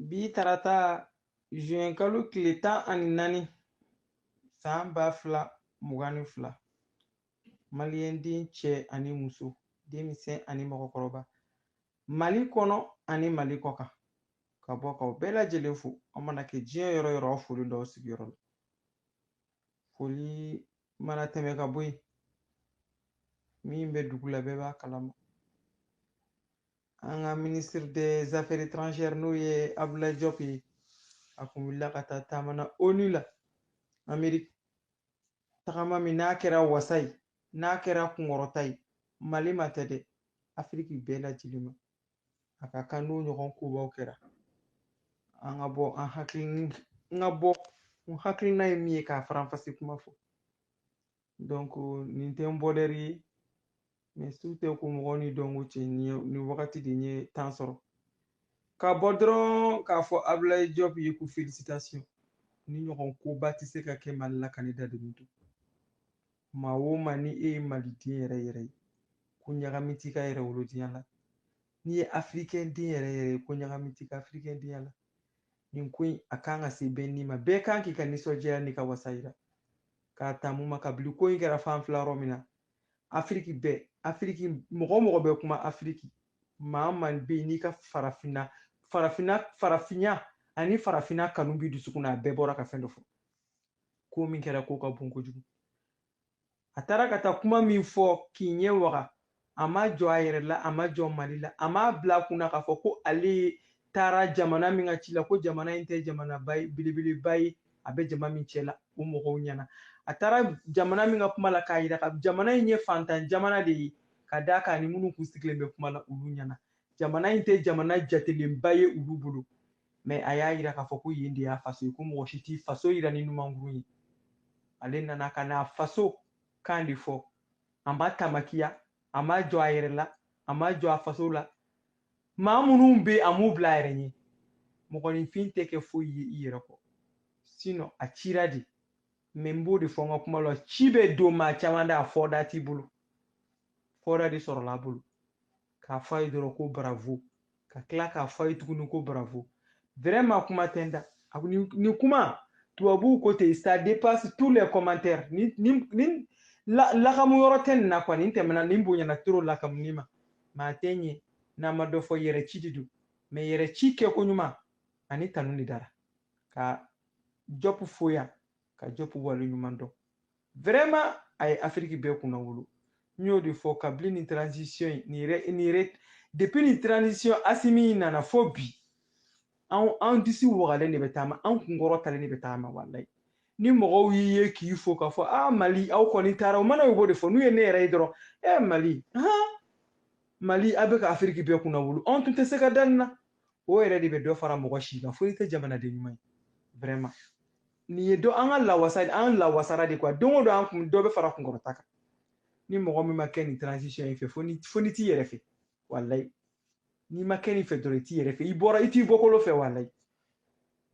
bi tarata juin kalo tile tan ani naani san ba fila mugan ni fila maliyɛn den cɛ ani muso denmisɛn ani mɔgɔkɔrɔba mali kɔnɔ ani mali kɔkan ka bɔ k'aw bɛɛ lajɛlen fo aw mana kɛ diɲɛ yɔrɔ yɔrɔ aw foli d'aw sigiyɔrɔ la foli mana tɛmɛ ka bɔ yen min bɛ dugu la bɛɛ b'a kalama an ka ministre des affaires étrangères n'o ye abulayi jɔp ye a kun wulila ka taa taama na onu la ameriki tagama min n'a kɛra wasa ye n'a kɛra kunkɔrɔta ye mali ma tɛ dɛ afiriki bɛɛ lajɛlen ma a ka kan n'o ɲɔgɔn kobaw kɛra an ka bɔ an hakili n ka bɔ n hakilina ye min ye k'a faranfasi kuma fɔ donc nin tɛ n bɔlɛri ye mais su tɛ ko mɔgɔ n'i dɔnko cɛ nin wagati de n ye temps sɔrɔ ka bɔ dɔrɔn k'a fɔ abulayi jɔp ye ko félicitations nin ɲɔgɔn koba tɛ se ka kɛ mali la ka ne dadennen to maa o maa ni e ye maliden yɛrɛ yɛrɛ ye ko ɲagami t'i ka yɛrɛwolodenya la n'i ye afirikɛn den yɛrɛ yɛrɛ ye ko ɲagami t'i ka afirikɛn denya la nin ko in a kan ka se bɛɛ ni ma bɛɛ kan k'i ka nisɔndiya n'i ka wasa yira k'a ta mun ma kabili ko in kɛra f'an filɛ yɔrɔ min na afiriki bɛɛ afiriki mɔgɔ mɔgɔ bɛ kuma afiriki maa o maa bɛ yen n'i ka farafinna farafinya ani farafinna kanu b'i dusukun na a bɛɛ bɔra ka fɛn dɔ fɔ ko min kɛra ko ka bon kojugu a taara ka taa kuma min fɔ k'i ɲɛ waga a ma jɔn a yɛrɛ la a ma jɔn mali la a m'a bila a kun na k'a fɔ ko ale taara jamana min ka ci la ko jamana in tɛ jamanaba ye belebeleba ye a bɛ jama min cɛ la o mɔgɔw ɲɛna a taara jamana min ka kuma la k'a yira ko jamana in ye fantan jamana de ye ka d'a kan a ni minnu kun sigilen bɛ kuma la olu ɲɛna jamana in tɛ jamana jatelenba ye olu bolo mais a y'a yira k'a fɔ ko yen de y'a faso ye ko mɔgɔ si t'i faso yira ni numankuru ye ale nana ka n'a faso kan de fɔ a ma tamakiya a ma jɔn a yɛrɛ la a ma jɔn a faso la maa minnu bɛ a m'u bila a yɛrɛ ɲɛ mɔgɔninfin tɛ kɛ foyi ye i yɛrɛ kɔ sinon a cira de mais n b'o de fɔ n ka kuma la ci bɛ don maa caman da a fɔda t'i bolo fɔda de sɔrɔla a bolo k'a fɔ a ye dɔrɔn ko bravo ka tila k'a fɔ a ye tuguni ko bravo vraiment kuma tɛ n da nin kuma tubabuw ko ten ça dépasse tous les commentaires nin lakamu yɔrɔ tɛ nin na quoi nin tɛmɛna nin bonyana trop lakamuni ma maa tɛ ɲɛ n'a ma dɔ fɔ yɛrɛ ci de don mais yɛrɛ ci kɛko ɲuman ani tanu de dara ka jɔp foya ka jɔpu wale ɲuman dɔn vraiment a ye afiriki bɛɛ kunnawolo n y'o de fɔ kabili ni transition ye nin yɛrɛ nin yɛrɛ depuis nin transition asimi in nana fo bi anw an disi wagalen de bɛ taama an kun kɔrɔtalen de bɛ taama walayi ni mɔgɔw y'i ye k'i fo k'a fɔ a mali aw kɔni taara o mana u b'o de fɔ n'u ye ne yɛrɛ ye dɔrɔn e mali han mali a bɛ ka afiriki bɛɛ kunnawolo anw tun tɛ se ka da nin na o yɛrɛ de bɛ dɔ fara mɔgɔ si kan fo n'i tɛ jamanaden ɲuman ye vraiment nin ye dɔ an ka lawasa an lawasara de quoi don o don an kun dɔ bɛ fara kunkɔrɔta kan ni mɔgɔ min ma kɛ nin transition in fɛ fo n'i fo n'i t'i yɛrɛ fɛ walayi n'i ma kɛ nin fɛ dɔrɔn i t'i yɛrɛ fɛ i bɔra i t'i bɔkolo fɛ walayi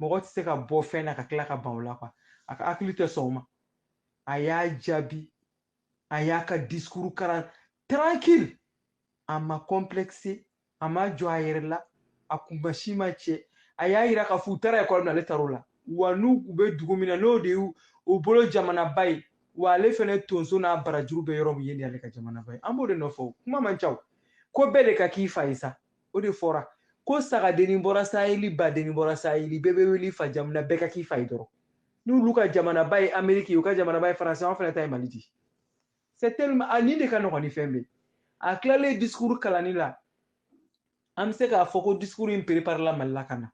mɔgɔ tɛ se ka bɔ fɛn na ka tila ka ban o la quoi a ka hakili tɛ sɔn o ma a y'a jaabi a y'a ka discours karan tranquille a ma complexe a ma jɔ a yɛrɛ la a kunmasi ma cɛ a y'a yira k'a fɔ u taara ekɔli min na ale taar'o la wa n'u u bɛ dugu min na n'o de y'u u bolo jamanaba ye wa ale fɛnɛ tonso n'a barajuru bɛ yɔrɔ min yen de ale ka jamanaba ye an b'o de nɔfɛ o kuma man ca o ko bɛɛ de ka k'i fa ye sa o de fɔra ko sagadenni bɔra saheli badenni bɔra saheli bɛɛ bɛ wele i fa jamu na bɛɛ ka k'i fa ye dɔrɔn n'olu ka jamanaba ye ameriki ye u ka jamanaba ye faransi an fɛnɛ ta ye mali di c'est tellement a nin de ka nɔgɔn ni fɛn bɛɛ a tilalen discours kalanni la an bɛ se k'a fɔ ko discours in préparela mali la ka na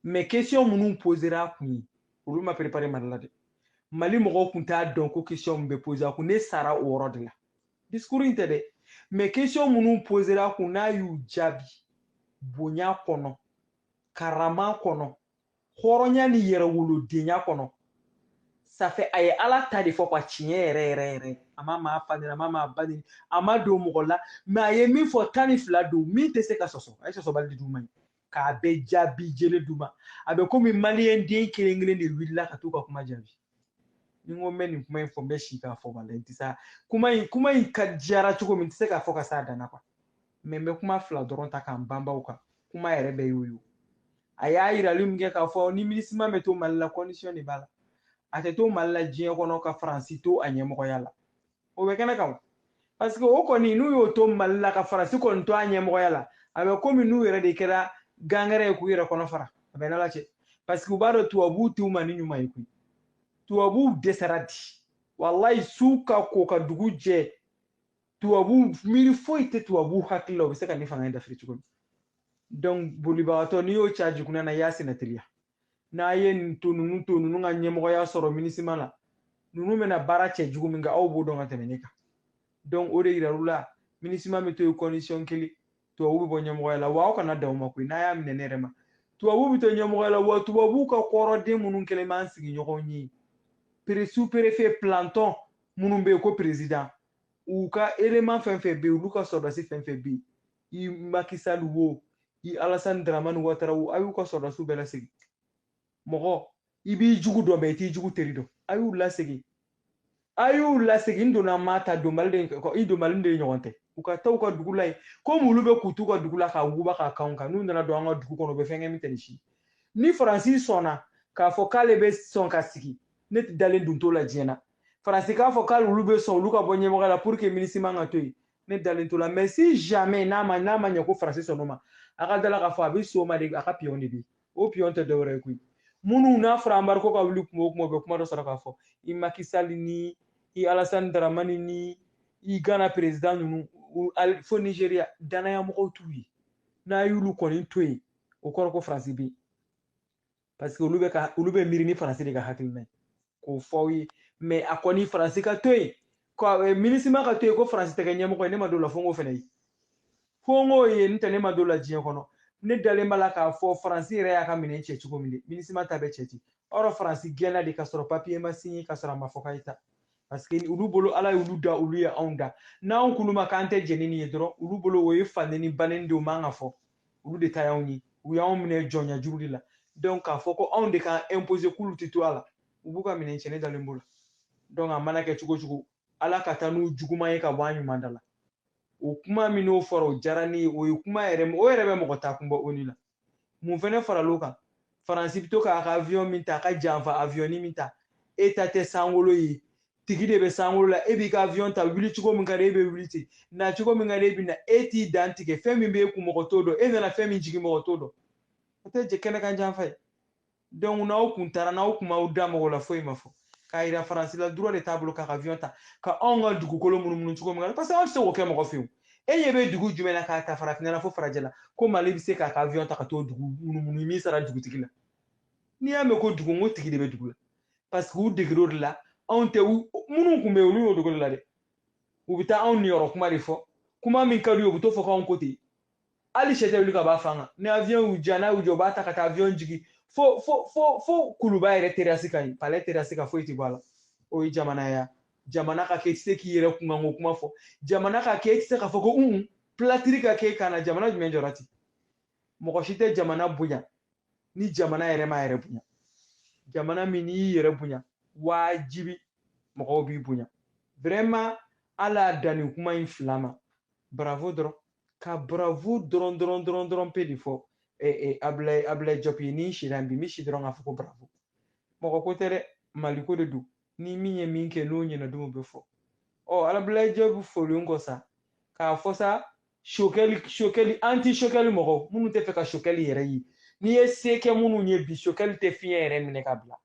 mais question minnu posera a kun ye olu ma préparer mali la dɛ mali mɔgɔw kun t'a dɔn ko question min bɛ poser a kun ne sara o yɔrɔ de la discours in tɛ dɛ mais question minnu posera a kun n'a y'u jaabi bonya kɔnɔ karama kɔnɔ hɔrɔnya ni yɛrɛwolodenya kɔnɔ ça fait a ye ala ta de fɔ quoi tiɲɛ yɛrɛ yɛrɛ yɛrɛ a ma maa fa nɛni a ma maa ba nɛni a ma don mɔgɔ la mais a ye min fɔ tan ni fila don min tɛ se ka sɔsɔ a ye sɔsɔbali de d'u ma ye k'a bɛɛ jaabi jɛlen d'u ma a bɛ komi maliyɛn den kelen kelen de wulila ka t'u ka kuma jaabi ni n ko n bɛ nin kuma in fɔ n bɛ si k'a fɔ walayi n tɛ se kuma in kuma in ka diyara cogo min n tɛ se k'a fɔ ka s'a dan na quoi mais n bɛ kuma fila dɔrɔn ta ka n banban u kan kuma yɛrɛ bɛɛ y'o ye a y'a yirali min kɛ k'a fɔ ni minusma bɛ to mali la condition de b'a la a tɛ to mali la diɲɛ kɔnɔ ka faransi to a ɲɛmɔgɔya la o bɛ kɛnɛ kan parce que o kɔni n'u y'o to mali la ka faransi kɔni to a ɲɛmɔgɔya la a bɛ komi n'u yɛrɛ de kɛra gangɛrɛ ye k'u yɛrɛ kɔnɔ fara a b'u n'ala cɛ parce que u b'a dɔn tubabuw t'u maani ɲuman ye koyi tubabuw dɛsɛra de walayi su ka ko ka dugu jɛ tubabu miiri foyi tɛ tubabu hakili la u bɛ se ka nin fanga in dafiri cogo min donc bolibagatɔ n'i y'o c'a jukunan na i y'a senna teliya n'a ye nin to ninnu to ninnu ka ɲɛmɔgɔya sɔrɔ minisima la ninnu bɛna baara cɛjugu min kɛ aw b'o dɔn ka tɛmɛ ne kan donc o de yirar'u la minisima bɛ to yen condition kelen tubabu bɛ bɔ ɲɛmɔgɔya la wa aw kana dan o ma koyi n'a y'a minɛ ne yɛrɛ ma tubabu bɛ to ɲɛmɔgɔya la wa tubabu ka kɔrɔden minnu kɛlen b'an sigiɲɔgɔnw ye pere superefe plantɔn minnu bɛ yen ko perezidan u ka eleman fɛn fɛn bɛ yen olu ka sɔrɔdasi fɛn fɛn bɛ yen i Macky Sall wo i Alassane Dramane Ouattara wo a y'u ka sɔrɔdasiw bɛɛ lasegin mɔgɔ i b'i jugu dɔn bɛɛ i t'i jugu teri dɔn a y'u lasegin a y'u lasegin n donna ma ta donbali de i donbali de ye ɲɔgɔn tɛ u ka taa u ka dugu la yen komi olu bɛ k'u t'u ka dugu la k'a wuguba k'a k'anw kan n'u nana don an ka dugu kɔnɔ u bɛ fɛn kɛ min tɛ nin si ni faransi sɔnna k'a fɔ k'ale bɛ sɔn ka sigi ne dalen dun t'o la diɲɛ na faransi k'a fɔ k'ale olu bɛ sɔn olu ka bɔ ɲɛmɔgɔ la pour que minisima ka to yen ne dalen t'o la mais si jamais n'a ma n'a ma ɲɛ ko faransi sɔnn'o ma a ka d'a la k'a fɔ a bɛ sɔn o ma de a ka piyɔn de bɛ yen o piyɔn tɛ dɔwɛrɛ ye koyi minnu n'a fɔra embargo ka wuli kuma o kuma u bɛ kuma dɔ sɔrɔ k'a fɔ i Macky Sall ni i Alassane Dramane ni i gana perezidan ninnu fo nizeriya danaya mɔgɔw t'u ye n'a y'olu kɔni to yen o kɔrɔ ko faransi bɛ yen parce que olu bɛ ka olu bɛ miiri ni faransi de ka hakilina ye k'o fɔ aw ye mais a kɔni faransi ka to yen eh, minisima ka to yen ko faransi tɛ kɛ ɲɛmɔgɔ ye ne ma d'o la fo n k'o fɛnɛ ye fo n k'o ye n'o tɛ ne ma d'o la diɲɛ kɔnɔ ne dalen b'a la k'a fɔ faransi yɛrɛ y'a ka minɛn cɛ cogo min de minisima ta bɛ cɛ ten or faransi gɛnna de ka sɔrɔ papiye ma sinye ka sɔrɔ a ma fɔ k'a ye taa parce que olu bolo ala y'olu da olu ye anw da n'anw kulu ma k'an tɛ jɛn ni nin ye dɔrɔn olu bolo o ye faneni baneni de o man ka fɔ olu de ta y'anw ye u y'anw minɛ jɔnya juru de la donc k'a fɔ ko anw de k'an imposer k'olu tɛ to a la u b'u ka minɛn cɛ ne dalen b'o la donc a mana kɛ cogo cogo ala ka taa n'u juguman ye ka bɔ an ɲuman da la o kuma min n'o fɔra o diyara ne ye o ye kuma yɛrɛ o yɛrɛ bɛ mɔgɔ taa kun bɔ o ni la mun fɛnɛ faral'o kan faransi bɛ to k'a ka aviyɔn min ta a ka janfa aviyɔni min ta e ta tɛ sankolo ye tigi de bɛ sankolo la e b'i ka aviyɔn ta wuli cogo min ka di e bɛ wuli ten na cogo min ka di e bɛ na e t'i dantigɛ fɛn min b'e kun mɔgɔ t'o dɔn e nana fɛn min jigin mɔgɔ t'o dɔn o tɛ jɛ kɛnɛ kan janfa ye donc n'aw kun taara n'aw kun m'aw da mɔgɔ la foyi ma fɔ k'a yira faransi la droit de t'a bolo k'a ka avion ta ka anw ka dugukolo munumunu cogo min na parce que anw tɛ se k'o kɛ mɔgɔ fɛ yen e ɲɛ bɛ dugu jumɛn na k'a ta farafinna la fo farajɛ la ko mali bɛ se k'a ka avion ta ka t'o dugu munumunu i m'i sara dugutigi la n'i y'a mɛn ko dugu n ko tigi de bɛ dugu la parce que u degera o de la anw tɛ minnu tun bɛ yen olu y'u deg'o de la dɛ u bɛ taa anw niyɔrɔ kuma de fɔ kuma min ka d'u ye u bɛ t'o fɔ k'anw ko ten hali sɛ tɛ wuli ka b'a fan kan ni avion y'u ja n'a y'u jɔ u b'a ta ka taa avion jigin fo fo fo fo kuluba yɛrɛ terasi kan palais terasi kan foyi tɛ bɔ a la o ye jamana ya jamana ka kɛ i tɛ se k'i yɛrɛ kunkanko kuma fɔ jamana ka kɛ i tɛ se k'a fɔ ko un pilatiri ka kɛ ka na jamana jumɛn jɔra ten mɔgɔ si tɛ jamana bonya ni jamana yɛrɛ m'a yɛrɛ bonya jamana min n'i y'i yɛrɛ bonya waajibi mɔgɔw b'i bonya vraiment ala danni kuma in fila ma bravo dɔrɔn ka bravo dɔrɔn dɔrɔn dɔrɔn dɔrɔn pe de fɔ abulayi abulayi jɔpi ye ni sira bi n bɛ si dɔrɔn k'a fɔ ko bravo mɔgɔ ko tɛ dɛ mali ko de don ni min ye min kɛ n'o ɲɛna dun o bɛ fɔ ɔ abulayi jɔpi folen kɔ sa k'a fɔ sa sokɛli sokɛli anti sokɛli mɔgɔ minnu tɛ fɛ ka sokɛli yɛrɛ ye n'i ye se kɛ minnu ye bi sokɛli tɛ fiɲɛ yɛrɛ minɛ ka bila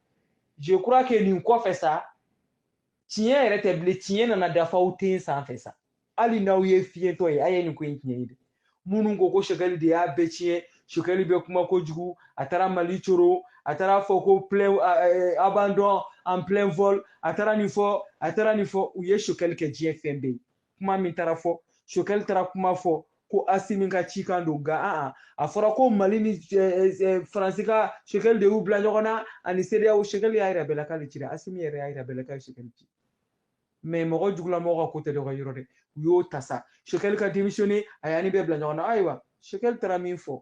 je crois que nin kɔfɛ sa tiɲɛ yɛrɛ tɛ bilen tiɲɛ nana da faw ten sanfɛ sa hali n'aw ye fiyentɔ ye a ye nin ko in tiɲɛ ye dɛ minnu ko ko sokɛli de y'a bɛɛ tiɲɛ sokɛli bɛ kuma kojugu a taara mali coro a taara fɔ ko plein abandon en plein vol a taara nin fɔ a taara nin fɔ u ye sokɛli kɛ diɲɛ fɛn bɛɛ ye kuma min taara fɔ sokɛli taara kuma fɔ ko asimi ka cikan don nka a a fɔra ko mali ni faransi ka sokɛli de y'u bila ɲɔgɔn na ani seereyaw sokɛli y'a yira bɛɛ la k'ale cira asimi yɛrɛ y'a yira bɛɛ la k'a ye sokɛli ci mais mɔgɔ jugulamɔgɔ ka ko tɛ dɔ ka yɔrɔ dɛ u y'o ta sa sokɛli ka démissionner a y'an ni bɛɛ bila ɲɔgɔn na ayiwa sokɛli taara min fɔ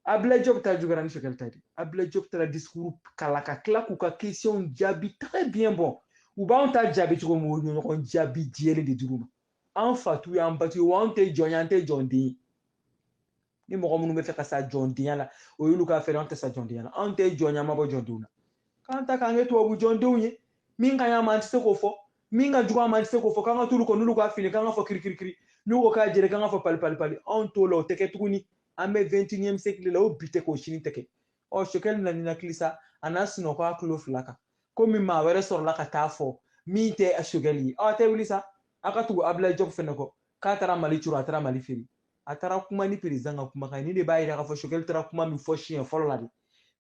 abila job ta juguyara ni sokɛli ta di abila job taara discours kalan ka tila k'u ka questions jaabi très bien bon u b'anw ta jaabi cogo min o ɲɔgɔn jaabi jɛlen de dir'u ma an fa t'u y'an ba t'u ye wa anw tɛ jɔn ye an tɛ jɔn den ye ni mɔgɔ minnu bɛ fɛ ka sa jɔndenya la o y'olu k'affaire an tɛ sa jɔndenya la anw tɛ jɔnya ma bɔ jɔndenw na k'an ta k'an kɛ tubabu jɔndenw ye min ka ɲi an ma an tɛ se k'o fɔ min ka jugu an ma an tɛ se k'o fɔ k'an ka t'olu kɔ n'olu k'a fin k'an k'a fɔ kirikirikiri n'u ko k'a jɛra k'an k'a fɔ pali pali pali anw t'o la o tɛ kɛ tuguni an bɛ vingt-et-unième siècle la o bi tɛ k'o sini tɛ kɛ ɔ sokɛli na ninakili sa a n'a sunɔgɔ a tulo fila kan komi maa wɛrɛ sɔrɔla ka taa fɔ min tɛ sokɛli ye aw tɛ wuli sa aw ka tugu abila jɔb fɛnɛ kɔ k'a taara mali curu a taara mali feere a taara kuma ni président ka kumakan ye nin de b'a yira k'a fɔ sokɛli taara kuma min fɔ siɲɛ fɔlɔ la de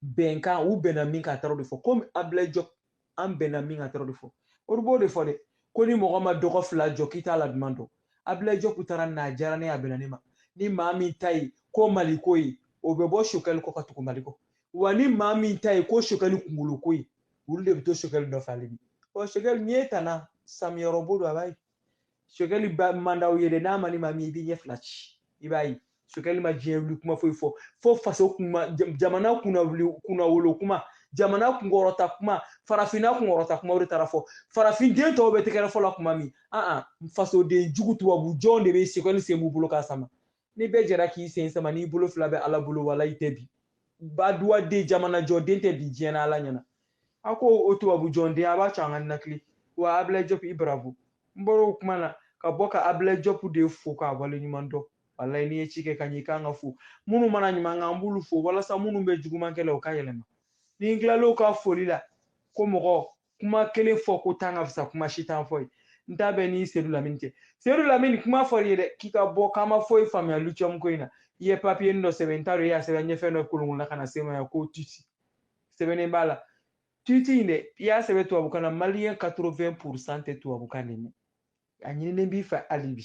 bɛnkan u bɛnna min kan a taara o de fɔ komi abulayi jɔpi an bɛnna min kan a taara o de fɔ olu b'o de fɔ dɛ ko ni mɔgɔ ma dɔgɔ fila jɔ k'i t'a la duman dɔn abulayi jɔpi taara nin na a diyara ne ye a bɛnna ne ma ni maa min ta ye ko mali ko ye o bɛ bɔ sokɛli kɔ ka tugu mali kɔ wa ni maa min ta ye ko sokɛli kunkolo ko ye olu de bɛ to sokɛli nɔfɛ hali bi ɔ sokɛli n'i ye tana samiyɔrɔbo don a b'a ye sokɛli man d'aw ye dɛ n'a man di maa min i b'i ɲɛ fila ci i b'a ye sokɛli ma diɲɛ wuli kuma foyi fɔ fo faso kuma jamana kunna kunnawolo kuma jamana kunkɔrɔta kuma farafinna kunkɔrɔta kuma o de taara fɔ farafinden tɔw bɛ tɛgɛrɛ fɔ la kuma min an fasoden jugu tubabu jɔn de bɛ sokɛli sen b'u bolo k'a sama ni bɛɛ jɛra k'i sen sama n'i bolo fila bɛ ala bolo walayi i tɛ bin baduwa den jamanajɔ den tɛ bin diɲɛ na ala ɲɛna a ko o tubabu jɔnden a b'a cɔ an ka nakili wa abilayi jɔpu i bravo n bɔra o kuma na ka bɔ ka abilayi jɔpu de fo k'a waleɲuman dɔn walayi n'i ye ci kɛ ka ɲɛ i kan ka fo minnu mana ɲuman kɛ an b'olu fo walasa minnu bɛ juguman kɛ la u ka yɛlɛma ni n tilal'o ka foli la ko mɔgɔ kuma kelen fɔ ko tan ka fisa kuma si tan fɔ ye n ta bɛ n ni sedu lamini cɛ sedu lamini kuma fɔr'i ye dɛ k'i ka bɔ k'an ma foyi faamuya lithium ko in na i ye papiye dɔ sɛbɛn n t'a dɔn i y'a sɛbɛn ɲɛfɛn dɔ kolonkolonna ka na se n ma yan ko tuti sɛbɛnnen b'a la tuti in dɛ i y'a sɛbɛn tubabukan na maliyɛn 80 pourcent tɛ tubabukan de mɛn a ɲininen b'i fɛ hali bi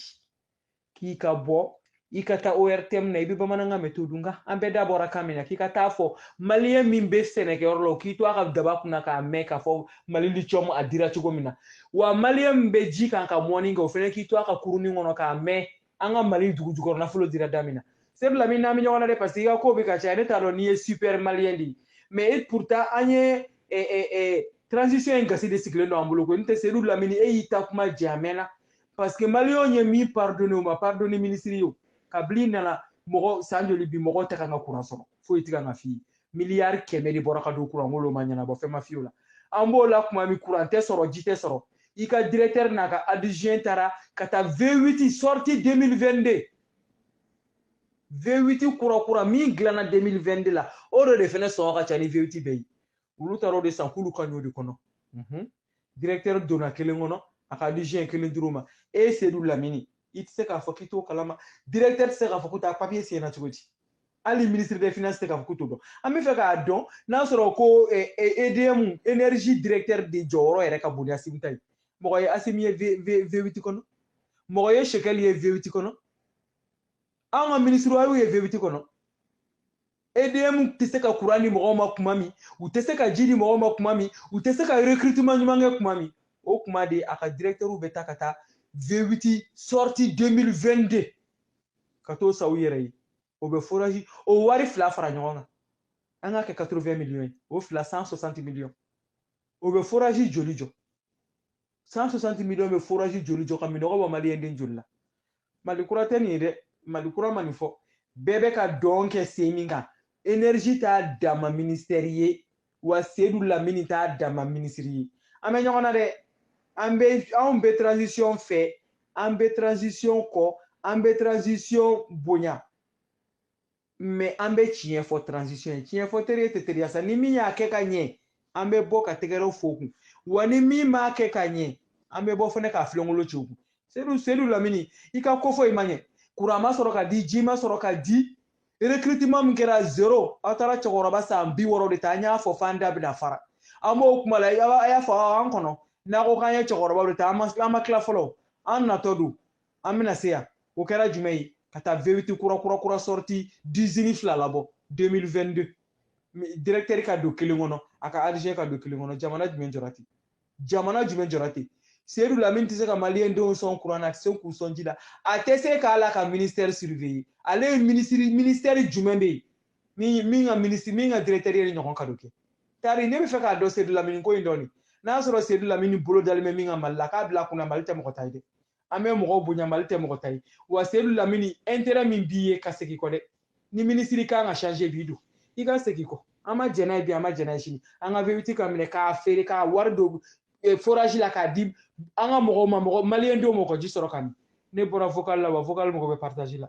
k'i ka bɔ i ka taa ortm na i bɛ bamanankan mɛn to dun kan an bɛɛ da bɔra kan min na k'i ka t'a fɔ maliyɛn min bɛ sɛnɛkɛyɔrɔ la o k'i to a ka daba kunna k'a mɛn k'a fɔ mali lithium a dira cogo min na wa maliyɛn min bɛ ji kan ka mɔni kɛ o fana k'i to a ka kurunin kɔnɔ k'a mɛn an ka mali dugu jukɔrɔ nafolo dira da min na sedu lamini an bɛ ɲɔgɔn na dɛ parce que i ka ko bɛ ka caya ne t'a dɔn n'i ye super maliyɛn de ye mais pourtant an ye transition in gasi de sigilen don an bolo ko n tɛ sedu lamini e y'i ta kuma jɛ a mɛnna parce que maliyɛnw ye min pardonné u ma pardonné ministre ye o kabil'i nana mɔgɔ san joli bi mɔgɔ tɛ kan ka kuran sɔrɔ foyi tɛ kan ka f'i ye miliyari kɛmɛ de bɔra ka don kuran ko ma ɲɛnabɔ fɛn ma f'i y'o la an b'o la kuma min kuran tɛ sɔrɔ ji tɛ sɔrɔ i ka directeur n'a ka adjoint taara ka taa V8 sortie 2022 V8 kura kura min dilanna 2022 la o de de fɛnɛ sɔngɔ ka ca ni V8 bɛɛ ye olu taara o de san k'olu ka ɲ'o de kɔnɔ directeur donna kelen kɔnɔ a ka adjoint kelen dir'o ma ee sedu lamini i tɛ se k'a fɔ k'i t'o kalama directeur tɛ se k'a fɔ k'o ta papiye siɲɛna cogo di hali ministre des finances tɛ k'a fɔ k'u t'o dɔn an bɛ fɛ k'a dɔn n'a sɔrɔ ko edm eh, eh, énergie directeur de jɔyɔrɔ yɛrɛ ka bon ni asimi ta ye mɔgɔ ye asimi ye v8 kɔnɔ mɔgɔ ye shogɛli ye v8 kɔnɔ anw ka minisiriw a y'u ye V8 kɔnɔ edm tɛ se ka kuran di mɔgɔw ma kuma min u tɛ se ka ji di mɔgɔw ma kuma min u tɛ se ka recrutement ɲuman kɛ kuma min o kuma de a ka directeurs bɛ taa ka taa V8 sortie 2022 ka t'o san u yɛrɛ ye o bɛ forage o wari fila fara ɲɔgɔn kan an k'a kɛ 80 millions ye o fila 160 millions o bɛ forage joli jɔ 160 millions bɛ forage joli jɔ ka minnɔgɔ bɔ maliyɛn den joli la mali kura tɛ nin ye dɛ mali kura ma nin fɔ bɛɛ bɛ ka dɔn kɛ sen min kan énergie t'a dama minisitɛri ye wa sedu lamini t'a dama minisiri ye an bɛ ɲɔgɔn na dɛ an bɛ anw bɛ transition fɛ an bɛ transition kɔ an bɛ transition bonya mais an bɛ tiɲɛ fɔ transition ye tiɲɛ fɔ teri ye tɛ teriya sa ni min y'a kɛ ka ɲɛ an bɛ bɔ ka tɛgɛrɛ f'o kun wa ni min m'a kɛ ka ɲɛ an bɛ bɔ fana ka filenkolon ci kun seyidu seyidu lamini i ka ko fɔ i ma ɲɛ kuran ma sɔrɔ ka di ji ma sɔrɔ ka di recrutement min kɛra zero aw taara cɛkɔrɔba san bi wɔɔrɔ de ta an y'a fɔ f'an da bɛna fara an b'o kuma la a y'a fɔ an kɔnɔ n'a ko k'an ye cɛkɔrɔba de ta an ma tila fɔlɔ an natɔ don an bɛna se yan o kɛra jumɛn ye ka taa vewiti kura kura kura sortie d'usine fila labɔ 2022 directeur ka don kelen kɔnɔ a ka adjoint ka don kelen kɔnɔ jamana jumɛn jɔra ten jamana jumɛn jɔra ten seyidu lamini tɛ se ka maliyɛn denw sɔn kuran na a tɛ se k'u sɔn ji la a tɛ se k'ale ka ministère surveiller ale ye minisiri ministère jumɛn bɛ yen min ka minisiri min ka directeur ye ɲɔgɔn ka don kɛ tari ne bɛ fɛ k'a dɔn seyidu lamini ko in dɔɔni n'a sɔrɔ seyidu lamini bolo dalen bɛ min kan mali la k'a bila kunna mali tɛ mɔgɔ ta ye dɛ an bɛ mɔgɔw bonya mali tɛ mɔgɔ ta ye wa seyidu lamini intérêt min b'i ye ka segin kɔ dɛ ni minisiri kan ka changer bi don i ka segin kɔ an ma jɛn n'a ye bi an ma jɛn n'a ye sini an ka vewiti ka minɛ k'a feere k'a wari don eh, forage la k'a di an ka mɔgɔw ma mɔgɔ maliyɛn denw ma u ka ji sɔrɔ k'a min ne bɔra vocal la wa vocal mɔgɔ bɛ partage la